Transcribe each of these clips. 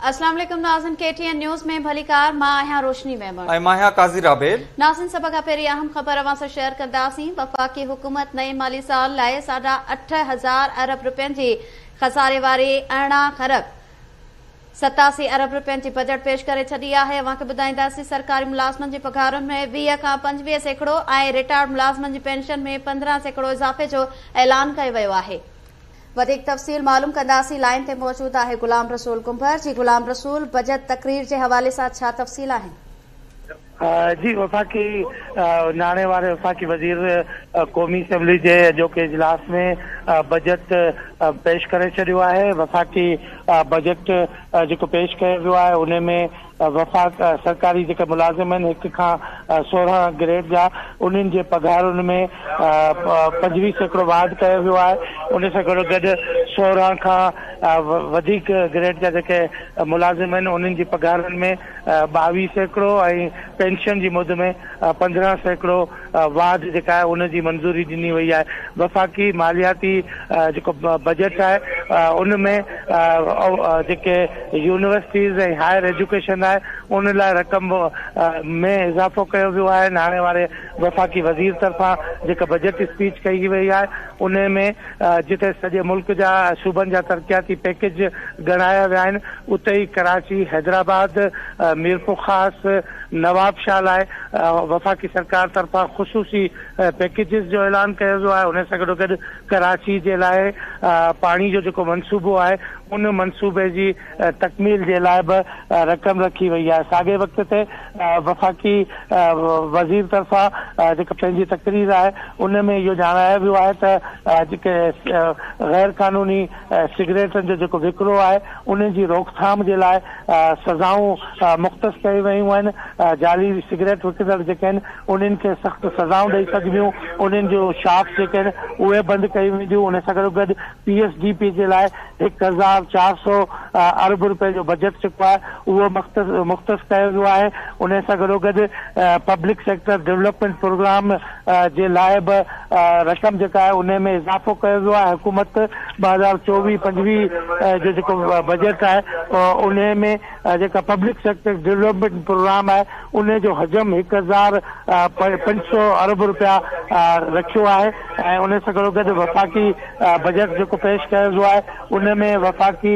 اسلام عليڪم ناظرين ڪي ٽي اين نيوز ۾ ڀليڪار مان آهيان روشني ميمڻ ۽ مان آهيان قاضي رابيل. ناظرين سڀ کان پهرين اهم خبر اوهان سان شيئر ڪنداسين وفاقي حڪومت نئين مالي سال لاء ساڍا اٺ هزار ارب رپين جي خساري واري ارڙهن کرب ستاسي ارب رپين جي بجيٽ پيش ڪري ڇڏي آهي اوهان کي ٻڌائينداسين سرڪاري ملازمن جي پگهارن ۾ ويهه کان پنجويهه سيڪڙو ۽ رٽائرڊ ملازمن جي پينشن ۾ پندرهن سيڪڙو اضافي جو اعلان ڪيو ويو آهي وڌيڪ تفصيل معلوم ڪنداسين لائين تي موجود آهي غلام رسول ڪنڀر جي غلام رسول بجيٽ تقرير جي حوالي سان ڇا تفصيل آهن. جي وفاقي ناڻي واري وفاقي وزير قومي اسيمبلي جي اڄوڪي اجلاس ۾ بجيٽ پيش ڪري ڇڏيو آهي وفاقي بجيٽ جيڪو پيش ڪيو ويو آهي ان ۾ وفاق سرڪاري جيڪي ملازم آهن هڪ کان سورهن گريڊ جا انهن جي پگهارن ۾ پنجويهه سيڪڙو واڌ ڪيو ويو آهي ان سان گڏو گڏ سورهن کان وڌيڪ گريڊ جا جيڪي ملازم آهن انهن جي پگهارن ۾ ٻاويهه سيڪڙو ۽ پينشن جي مد ۾ پندرهن سيڪڙو واڌ جيڪا آهي ان جي منظوري ڏني وئي آهي وفاقي مالياتي جيڪو بجيٽ آهي ان ۾ جيڪي يونيورسٽيز ۽ هائر ايجوڪيشن آهي ان لاء رقم ۾ اضافو ڪيو ويو آهي هاڻي واري وفاقي وزير طرفان جيڪا بجيٽ اسپيچ ڪئي وئي آهي ان ۾ جتي سڄي ملڪ جا صوبن جا ترقياتي پيڪيج ڳڻايا ويا آهن اتي ئي ڪراچي حيدرآباد ميرپورخاص نوابشاهه لاء وفاقي سرڪار طرفان خصوصي پيڪيجز جو اعلان ڪيو ويو آهي ان سان گڏوگڏ ڪراچي جي لاء پاڻي جو جيڪو منصوبو آهي ان منصوبي جي تڪميل جي لاء به رقم رکي وئي آهي ساڳئي وقت تي وفاقي وزير طرفان جيڪا پنهنجي تقرير آهي ان ۾ اهو ڄاڻايو ويو آهي ته جيڪي غير قانوني سگريٽن جو جيڪو وڪرو آهي انهن جي روڪٿام جي لاء سزائون مختص ڪيون ويون آهن، جعلي سگريٽ وڪڻندڙ جيڪي آهن انهن کي سخت سزائون ڏئي سگهبيون، انهن جون شاپس جيڪي آهن اهي بند ڪيون وينديون، ان سان گڏوگڏ پي ايس ڊي پي جي لاء هڪ هزار چار سؤ ارب روپين جو بجيٽ جيڪو آهي اهو مختص ڪيو ويو آهي، انهي سان گڏوگڏ پبلڪ سيڪٽر ڊولپمينٽ پروگرام جي لاء به رقم جيڪا آهي انهي ۾ اضافو ڪيو ويو آهي حڪومت ٻه هزار چوويهه پنجويهه جو جيڪو بجيٽ آهي انهي ۾ جيڪا پبلڪ سيڪٽر ڊولپمينٽ پروگرام آهي انهي جو حجم هڪ هزار پنج سؤ ارب رپيا رکيو آهي ۽ انهي سان گڏوگڏ وفاقي بجيٽ جيڪو پيش ڪيو ويو آهي انهي ۾ وفاقي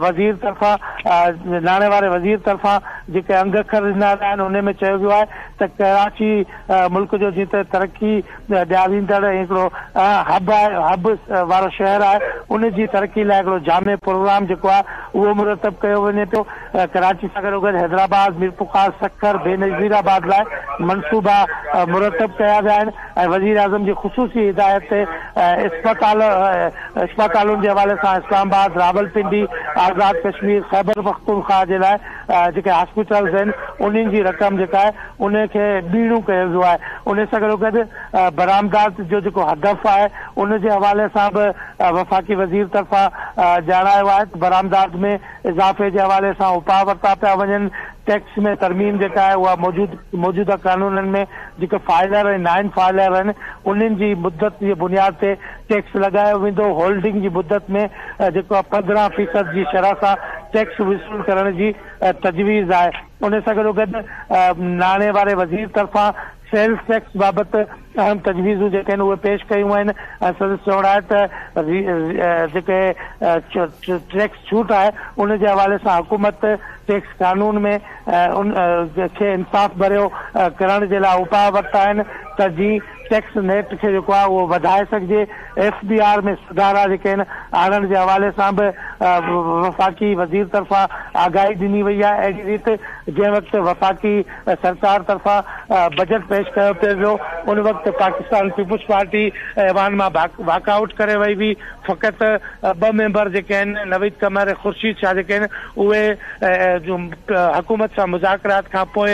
وزير طرفان ناڻي واري وزير طرفان جيڪي انگ اکر ڏنا ويا آهن انهي ۾ چيو ويو آهي ته ڪراچي ملڪ جو جيئن ته ترقي ڏياريندڙ ۽ هڪڙو هب آهي، هب وارو شهر آهي، ان جي ترقي لاء هڪڙو جامع پروگرام جيڪو آهي اهو مرتب ڪيو وڃي پيو، ڪراچي سان گڏو گڏ حيدرآباد، ميرپورخاص، سکر، بينظير آباد لاء منصوبا مرتب ڪيا ويا آهن ۽ وزيراعظم جي خصوصي هدايت تي اسپتال اسپتالن جي حوالي سان اسلام آباد، راولپنڊي، آزاد ڪشمير، خيبرپختونخواهه جي لاء جيڪي هاسپيٽلز آهن انهن جي رقم جيڪا آهي ان کي ٻيڻو ڪيو ويو آهي ان سان گڏو گڏ برآمدات جو جيڪو هدف آهي ان جي حوالي سان به وفاقي وزير طرفان ڄاڻايو آهي ته برآمدات ۾ اضافي جي حوالي سان اپاء ورتا پيا وڃن ٽيڪس ۾ ترميم جيڪا آهي اها موجود موجوده قانونن ۾ جيڪي فائلر ۽ نائن فائلر آهن انهن جي مدت جي بنياد تي ٽيڪس لڳايو ويندو، هولڊنگ جي مدت ۾ جيڪو آهي پندرهن فيصد جي شرح سان ٽيڪس وصول ڪرڻ جي تجويز آهي، ان سان گڏوگڏ ناڻي واري وزير طرفان سيلز ٽيڪس بابت اهم تجويزون جيڪي آهن اهي پيش ڪيون ويون ۽ سندس چوڻ آهي ته جيڪي ٽيڪس ڇوٽ آهي ان جي حوالي سان حڪومت ٽيڪس قانون ۾ ان کي انصاف ڀريو ڪرڻ جي لاء اپاء ورتا آهن ته جي ٽيڪس نيٽ کي جيڪو آهي اهو وڌائي سگهجي، ايف بي آر ۾ سڌارا جيڪي آهن آڻڻ جي حوالي سان به وفاقي وزير طرفان آگاهي ڏني وئي آهي اهڙي ريت جنهن وقت وفاقي سرڪار طرفان بجيٽ پيش ڪيو پيو ويو ان وقت پاڪستان پيپلز پارٽي ايوان مان واڪ آئوٽ ڪري وئي هئي فقط ٻه ميمبر جيڪي آهن نويد قمر ۽ خورشيد شاهه جيڪي آهن اهي حڪومت سان مذاڪرات کانپوء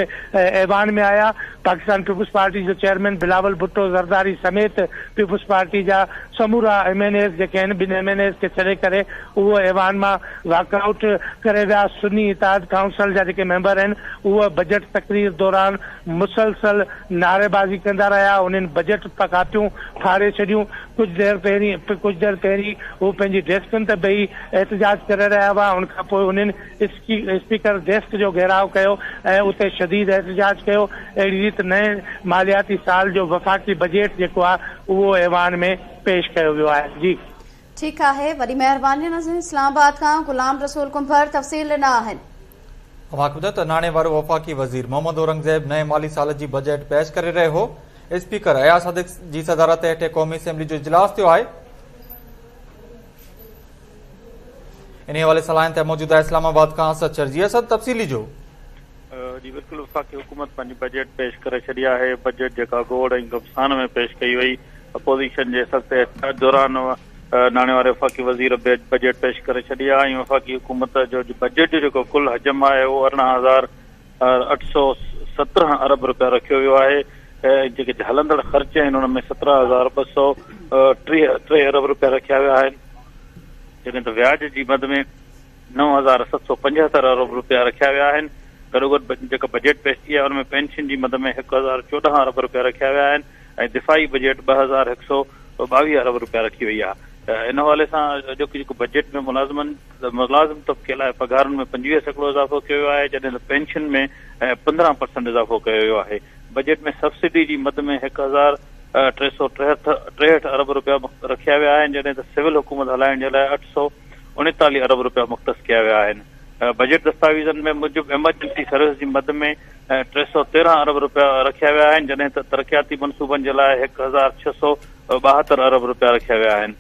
ايوان ۾ آيا پاڪستان پيپلز پارٽي جو چيئرمين بلاول ڀٽو زرداري سميت پيپلز پارٽي جا سمورا ايم اين ايز جيڪي آهن ٻن ايم اين ايز کي ڇڏي ڪري اهو ايوان مان واڪ آئوٽ ڪري ويا، سني اتحاد ڪائونسل جا جيڪي ميمبر آهن اهي بجيٽ تقرير دوران مسلسل نعريبازي ڪندا رهيا انهن بجيٽ ڪاپيون ڦاڙي ڇڏيون ڪجهه دير پهرين ڪجهه دير پهرين هو پنهنجي ڊيسڪن تي بيهي احتجاج ڪري رهيا هئا ان کانپوء انهن اسپيڪر ڊيسڪ جو گهيراء ڪيو ۽ اتي شديد احتجاج ڪيو، اهڙي ريت نئين مالياتي سال جو وفاقي بجيٽ جيڪو آهي اهو ايوان ۾ پيش ڪيو ويو آهي. جي. ٺيڪ آهي وڏي مهرباني ناظرين اسلام آباد کان غلام رسول ڪنڀر تفصيل ڏنا آهن. اوهان کي ٻڌايو ته ناڻي وارو وفاقي وزير محمد اورنگزيب نئين مالي سال جي بجيٽ پيش ڪري رهيو هو اسپيڪر اياز صديق جي صدارت هيٺين قومي اسيمبلي جو اجلاس ٿيو آهي انهي حوالي سان لائين تي موجود آهي اسلام آباد کان اسد شر جي اسد تفصيلي جو. جي بلڪل وفاقي حڪومت پنهنجي بجيٽ پيش ڪري ڇڏي آهي بجيٽ جيڪا گوڙ ۽ گبسان ۾ پيش ڪئي وئي اپوزيشن جي سخت احتجاج دوران ناڻي واري وفاقي وزير بجيٽ پيش ڪري ڇڏي آهي ۽ وفاقي حڪومت جو بجيٽ جو جيڪو ڪل حجم آهي اهو ارڙهن هزار اٺ سؤ سترهن ارب رپيا رکيو ويو آهي ۽ جيڪي هلندڙ خرچ آهن ان ۾ سترهن هزار ٻه سؤ ٽيهه ارب رپيا رکيا ويا آهن جڏهن ته وياج جي مد ۾ نو هزار ست سؤ پنجهتر ارب رپيا رکيا ويا آهن گڏوگڏ جيڪا بجيٽ پيش ٿي آهي ان ۾ پينشن جي مد ۾ هڪ هزار چوڏهن ارب رپيا رکيا ويا آهن ۽ دفاعي بجيٽ ٻه هزار هڪ سؤ ٻاويهه ارب رپيا رکي وئي آهي ان حوالي سان اڄوڪي جيڪو بجيٽ ۾ ملازمن ملازم طبقي لاء پگهارن ۾ پنجويهه سيڪڙو اضافو ڪيو ويو آهي جڏهن ته پينشن ۾ پندرهن پرسنٽ اضافو ڪيو ويو آهي بجيٽ ۾ سبسڊي جي مد ۾ هڪ هزار ٽي سؤ ٽيهٺ ارب رپيا رکيا ويا آهن جڏهن ته سول حڪومت هلائڻ جي لاء اٺ سؤ اڻيتاليهه ارب رپيا مختص ڪيا ويا آهن بجيٽ دستاويزن ۾ موجب ايمرجنسي سروس جي مد ۾ ۽ ٽي سؤ تيرهن ارب رپيا رکيا ويا آهن جڏهن ته ترقياتي منصوبن جي لاء هڪ هزار ڇهه سؤ ٻاهتر ارب رپيا رکيا ويا آهن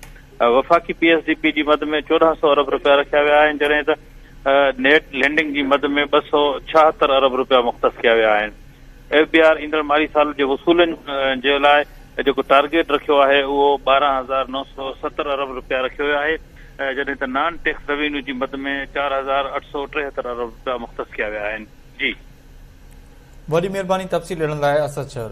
وفاقي پي ايس ڊي پي جي مد ۾ چوڏهن سؤ ارب رپيا رکيا ويا آهن جڏهن ته نيٽ لينڊنگ جي مد ۾ ٻه سؤ ڇاهتر ارب رپيا مختص ڪيا ويا آهن ايف بي آر ايندڙ مالي سال جي وصولن جي لاء جيڪو ٽارگيٽ رکيو آهي اهو ٻارهن هزار نو سؤ ستر ارب رپيا رکيو ويو آهي جڏهن ته نان ٽيڪس روينيو جي مد ۾ چار هزار اٺ سؤ ٽيهتر ارب رپيا مختص ڪيا ويا آهن جي. وڏي مھرباني تفصيل ڏيڻ لاء اسد شھر.